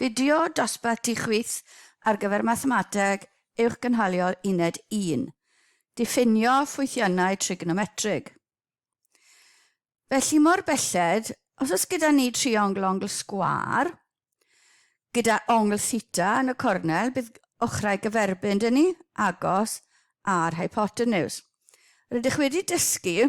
Fideo dosbarth ti chwith ar gyfer Mathemateg Uwchgynhaliol Uned un, Diffinio ffwythiannau trignometrig. Felly mor belled, os oes gyda ni triongl ongl sgwâr, gyda ongl theta yn y cornel, bydd ochrau gyferbyn dyn ni, agos, a'r hypotenws. Rydych wedi dysgu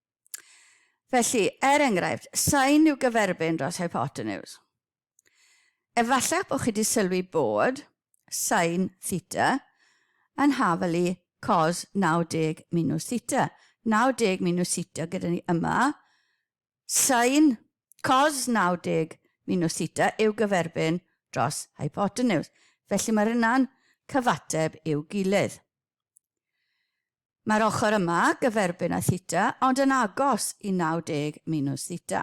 Felly, er enghraifft, sain yw gyferbyn dros hypotenws. Efallach bod chi wedi sylwi bod sain theta yn hafalu cos 90 minus theta. 90 minus theta gyda ni yma. Sain cos 90 minus theta yw gyferbyn dros hypotenws. Felly mae'r yna'n cyfateb i'w gilydd. Mae'r ochr yma gyferbyn â theta ond yn agos i 90 minus theta.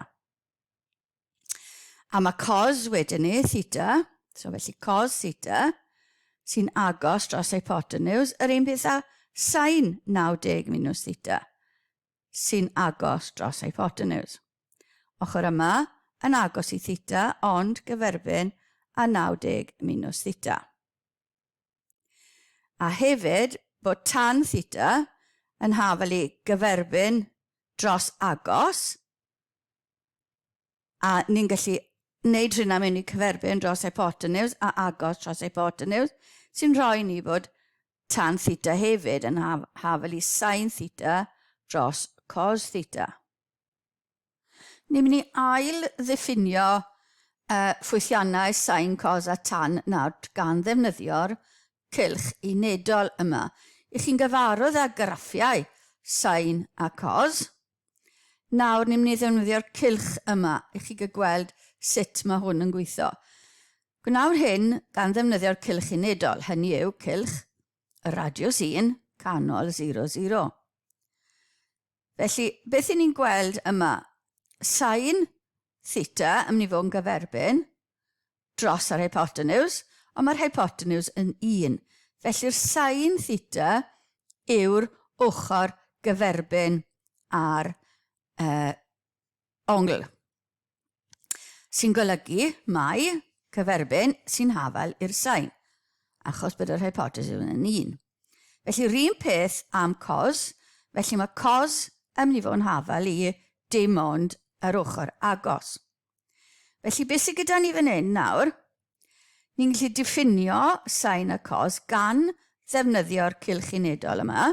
A mae cos wedyn ni, theta, so felly cos theta, sy'n agos dros hypotenuse, yr un peth â sain 90 minus theta, sy'n agos dros hypotenuse. Ochr yma yn agos i theta ond gyferbyn â 90 minus theta. A hefyd bod tan theta yn hafel i gyferbyn dros agos, a ni'n gallu wneud hynna mewn i cyferbyn dros hypotenws a agos dros hypotenws, sy'n rhoi ni bod tan theta hefyd yn hafel i sin theta dros cos theta. Ni'n mynd i ail-ddiffinio y ffwythiannau sain cos a tan nawd gan ddefnyddio'r cylch unedol yma. Y'ch chi'n gyfarwydd â graffiau sain a cos? Nawr ni'n mynd i ddefnyddio'r cylch yma i chi gweld sut mae hwn yn gweithio. Gwnawr hyn gan ddefnyddio'r cylch unedol, hynny yw cylch y radiws 1, canol 00. Felly, beth i ni'n gweld yma? Sain theta yn mynd i fod yn gyferbyn dros yr hypotenws, ond mae'r hypotenws yn 1. Felly'r sain theta yw'r ochr gyferbyn ar uh, ongl, sy'n golygu mai cyferbyn sy'n hafal i'r sain, achos bod yr hypothesis yn yn un. Felly, rhywun peth am cos, felly mae cos yn mynd i fod yn hafal i dim ond yr ochr agos. Felly, beth sydd gyda ni fan hyn nawr? Ni'n gallu diffinio sain a cos gan ddefnyddio'r cylch unedol yma.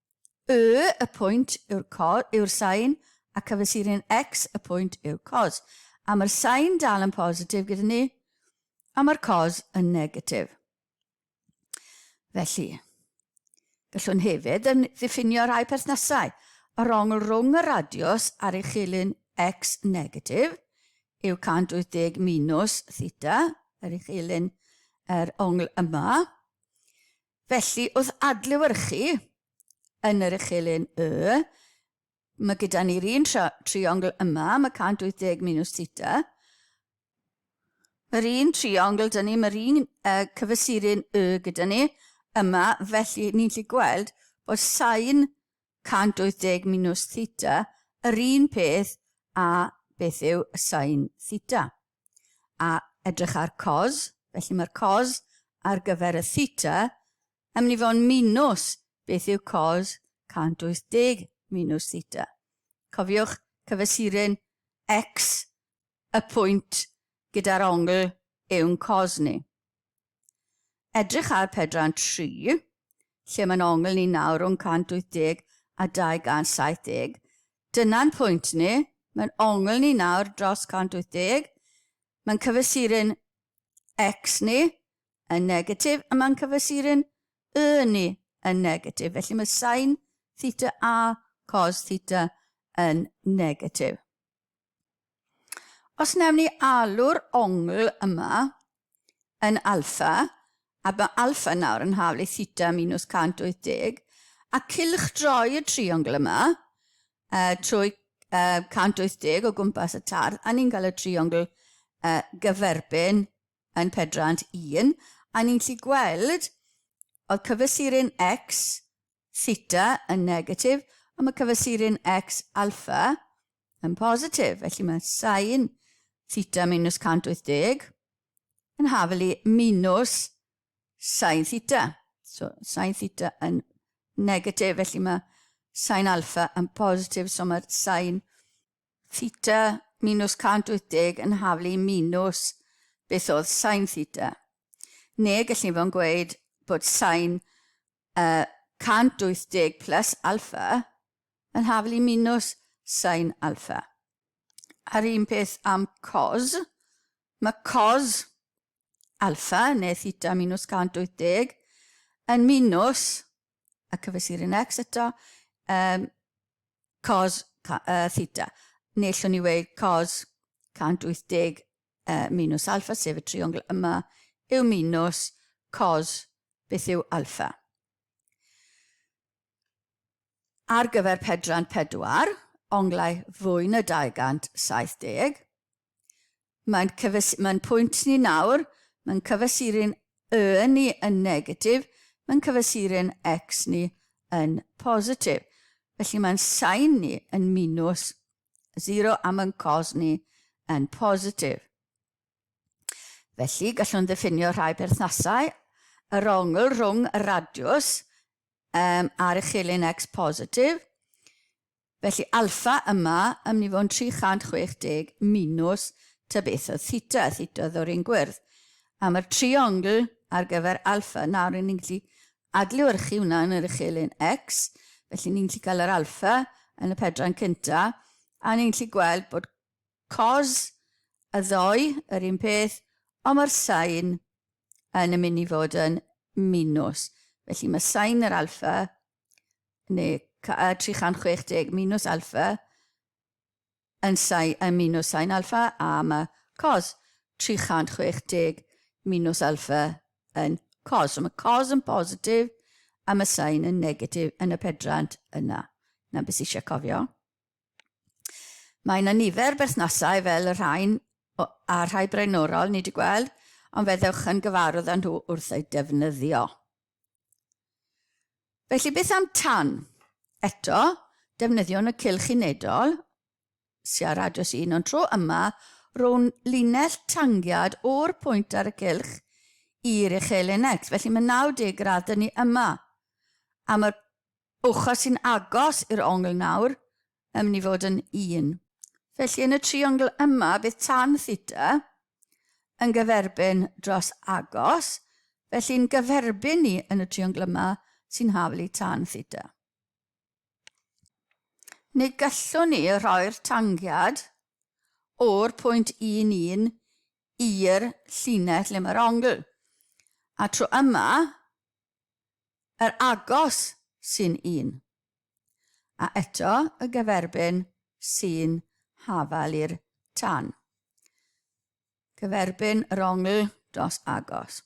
Y, y pwynt, yw'r cos, yw'r sain, a cyfesurin X, y pwynt, yw cos. A mae'r sain dal yn positif gyda ni, a mae'r cos yn negatif. Felly, gallwn hefyd yn ddiffinio rhai perthnasau. Yr ongl rhwng y radiws a'r uchelyn X negatif yw 180 minus theta, yr uchelyn yr ongl yma, Felly, wrth adlewyrchu yn yr uchel un Y, mae gyda ni'r un triongl yma, mae 180 minus theta. Yr un triongl dyn ni, mae'r un uh, cyfesurin Y gyda ni yma, felly ni'n gallu gweld bod sain 180 minus theta yr un peth a beth yw sain theta. a edrych ar cos, felly mae'r cos ar gyfer y theta yn mynd i fod yn minws beth yw cos 180 minws theta. Cofiwch cyfesurin x y pwynt gyda'r ongl yw'n cos ni. Edrych ar pedran 3, lle mae'n ongl ni nawr rhwng 180 a 270. Dyna'n pwynt ni, mae'n ongl ni nawr dros 180. Mae'n cyfesuru'n x ni yn negatif a mae'n cyfesuru'n y ni yn negatif. Felly mae sain theta a cos theta yn negatif. Os wnawn ni alw'r ongl yma yn alpha, a mae alpha nawr yn haflu theta minus 180, a cylchdroi y triongl yma uh, trwy uh, 180 o gwmpas y tardd, a ni'n cael y triongl uh, gyferbyn yn pedrant 1, a ni'n lli gweld oedd cyfesurin x theta yn negatif, a mae cyfesurin x alpha yn positif, felly mae sain theta minus 180 yn hafel i minus sain theta. So, sain theta yn negatif, felly mae sain alfa yn positif, so mae'r sain theta minus 180 yn hafel i minus beth oedd sain theta. Neu gallwn fo'n gweud bod sain uh, 180 plus alfa yn haflu minws sain alpha. A'r un peth am cos. Mae cos alpha, neu theta minws 180, yn minws, a cyfesurin x eto, um, cos uh, theta. Neu llwn ni weid cos 180 uh, minws alpha, sef y triongl yma, yw minws cos beth yw alpha. ar gyfer Pedran 4, onglau fwy na 270. Mae'n cyfes, mae'n pwynt ni nawr, mae'n cyfesurin y ni yn negatif, mae'n cyfesurin x ni yn positif. Felly mae'n sain ni yn minus 0 a mae'n cos ni yn positif. Felly, gallwn ddiffinio rhai perthnasau yr ongl rhwng y radiws um, ar y chelyn X positif. Felly alfa yma yn mynd i fod yn 360 minus tybiethoedd theta, theta oedd o'r un gwyrdd. A mae'r triongl ar gyfer alfa nawr yn ni'n gallu adlewyrchu hwnna yn yr uchelyn X, felly ni'n gallu cael yr alfa yn y pedran cynta, a ni'n gallu gweld bod cos y ddoe yr un peth, ond mae'r sain yn yn mynd i fod yn minws. Felly mae sain yr alfa, neu 360 minws alfa, yn, sai, yn minws sain alfa, a mae cos 360 minws alfa yn cos. So mae cos yn positif a mae sain yn negatif yn y pedrant yna. Yna beth sy'n eisiau cofio? Mae yna nifer berthnasau fel y rhain a rhai braenorol ni wedi gweld, ond fe ddewch yn gyfarwydd â nhw wrth eu defnyddio. Felly beth am tan? Eto, defnyddiwn y cylch unedol, siarad dros un o'n tro yma, rhwng linell tangiad o'r pwynt ar y cylch i'r uchelyn X. Felly mae 90 gradd dyn ni yma. Am y Ochr sy'n agos i'r ongl nawr yn mynd i fod yn un. Felly yn y triongl yma bydd tan theta yn gyferbyn dros agos, felly'n gyferbyn ni yn y triongl yma sy'n haflu tan theta. Neu gallwn ni rhoi'r tangiad o'r pwynt 1, 1 i'r llinell le mae'r ongl. A tro yma, Yr agos sy'n un. A eto y gyferbyn sy'n hafal i'r tan. Cyferbyn yr ongl dros agos.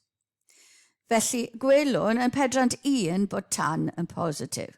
Felly, gwelwn yn pedrant un bod tan yn positif.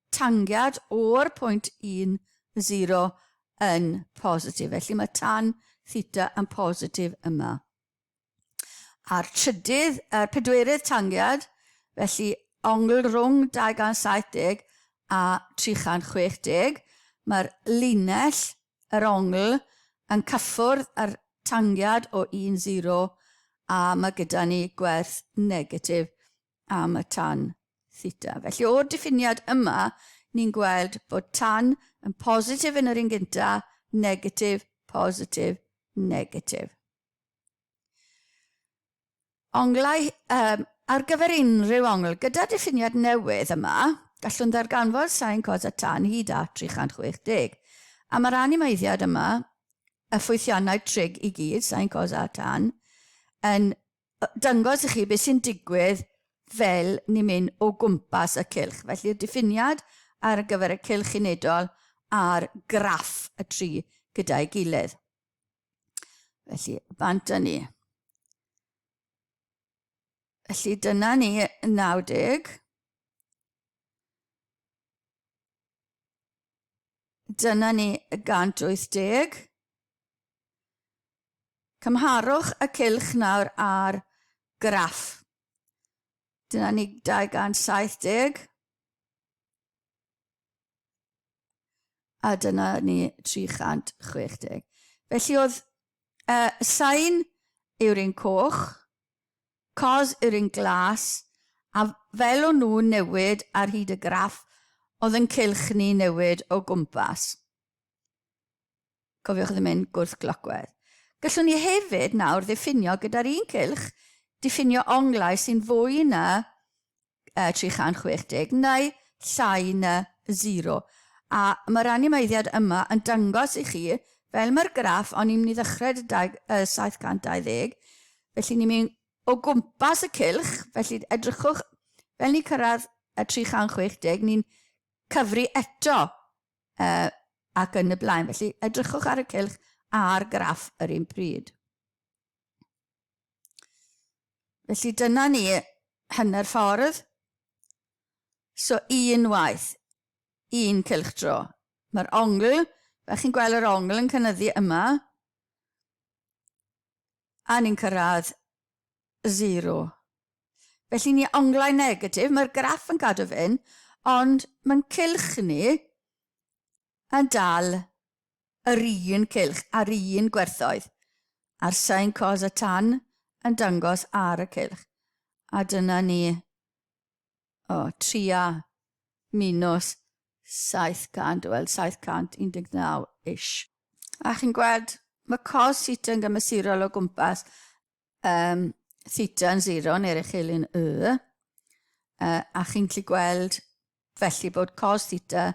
tangiad o'r pwynt 10 yn positif, felly mae tan theta yn positif yma. A'r trydydd, a'r pedwerydd tangiad, felly ongl rhwng 270 a 360, mae'r linell, yr ongl, yn cyffwrdd â'r tangiad o 10 a mae gyda ni gwerth negatif am y tan theta. Felly o'r diffiniad yma, ni'n gweld bod tan yn positif yn yr un gynta, negatif, positif, negatif. Onglau um, ar gyfer unrhyw ongl, gyda diffiniad newydd yma, gallwn ddarganfod sain cos a tan hyd at 360. A mae'r animeiddiad yma, y ffwythiannau trig i gyd, sain cos a tan, yn dangos i chi beth sy'n digwydd fel ni'n mynd o gwmpas y cylch. Felly'r diffiniad ar gyfer y cylch unedol a'r graff y tri gyda'i gilydd. Felly, bant â ni. Felly dyna ni 90. Dyna ni 180. Cymharwch y cylch nawr â'r graff. Dyna ni 270. A dyna ni 360. Felly oedd y sain yw'r un coch, cos yw'r un glas, a fel o'n nhw'n newid ar hyd y graff, oedd yn cylch ni newid o gwmpas. Cofiwch ddim mynd gwrthglocwedd. Gallwn ni hefyd nawr ddiffinio gyda'r un cylch diffinio onglau sy'n fwy na uh, 360 neu llai na 0. A mae'r animeiddiad yma yn dangos i chi, fel mae'r graff o'n i'n mynd i ddechrau y 720, felly ni'n mynd o gwmpas y cylch, felly edrychwch fel ni'n cyrraedd y 360, ni'n cyfri eto ac yn y blaen. Felly, edrychwch ar y cylch a'r graff yr un pryd. Felly, dyna ni hynny'r ffordd. So, un waith, un cylch dro. Mae'r ongl, fe chi'n gweld yr ongl yn cynnyddu yma, a ni'n cyrraedd 0. Felly ni onglau negatif, mae'r graff yn cadw fyn, ond mae'n cylch ni yn dal yr un cylch a'r un gwerthoedd, a'r sain cos a tan yn dangos ar y cylch. A dyna ni o, 3 a minus 700, wel 719-ish. A chi'n gweld, mae cos theta yn gymesurol o gwmpas um, theta yn 0 neu'r uchelin y, uh, a chi'n gallu gweld felly bod cos theta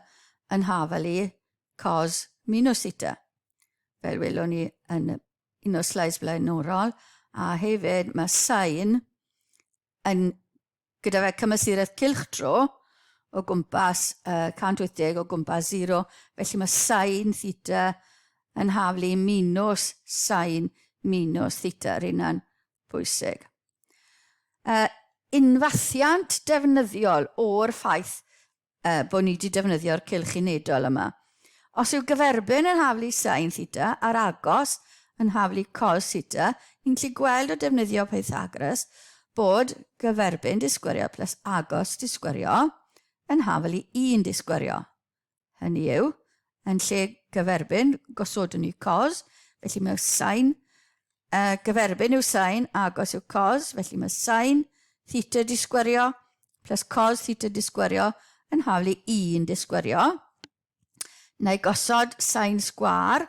yn hafel i cos minus theta. Fel welwn ni yn un o'r slides blaenorol, a hefyd mae sain yn Gyda fe cymesuredd cylchdro o gwmpas uh, 180 o gwmpas 0, felly mae sain theta yn haflu minus sain minus theta, rhywun yna'n bwysig. Uh, unfathiant defnyddiol o'r ffaith bod ni wedi defnyddio'r cylch unedol yma. Os yw gyferbyn yn haflu sin theta a'r agos yn haflu cos theta, ni'n gallu gweld o defnyddio Pythagoras bod gyferbyn disgwyrio plus agos disgwyrio yn haflu un disgwyrio. Hynny yw, yn lle gyferbyn, gosodwn ni cos, felly mae sin Uh, gyferbyn yw sain agos yw cos, felly mae sain theta disgwerio plus cos theta disgwerio yn haflu 1 disgwerio. Na i gosod sain sgwar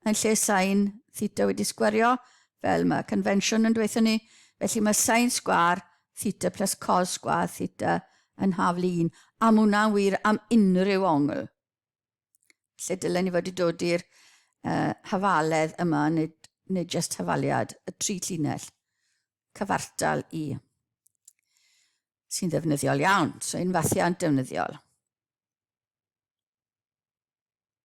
yn lle sain theta wedi sgwerio, fel mae convention yn dweud ni. Felly mae sain sgwar theta plus cos sgwar theta yn haflu 1. Am hwnna'n wir am unrhyw ongl. Lle dylen ni fod i dod i'r uh, hafaledd yma, neu, neu just hafaliad, y tri llinell, cyfartal i, sy'n ddefnyddiol iawn, so un fathiant defnyddiol.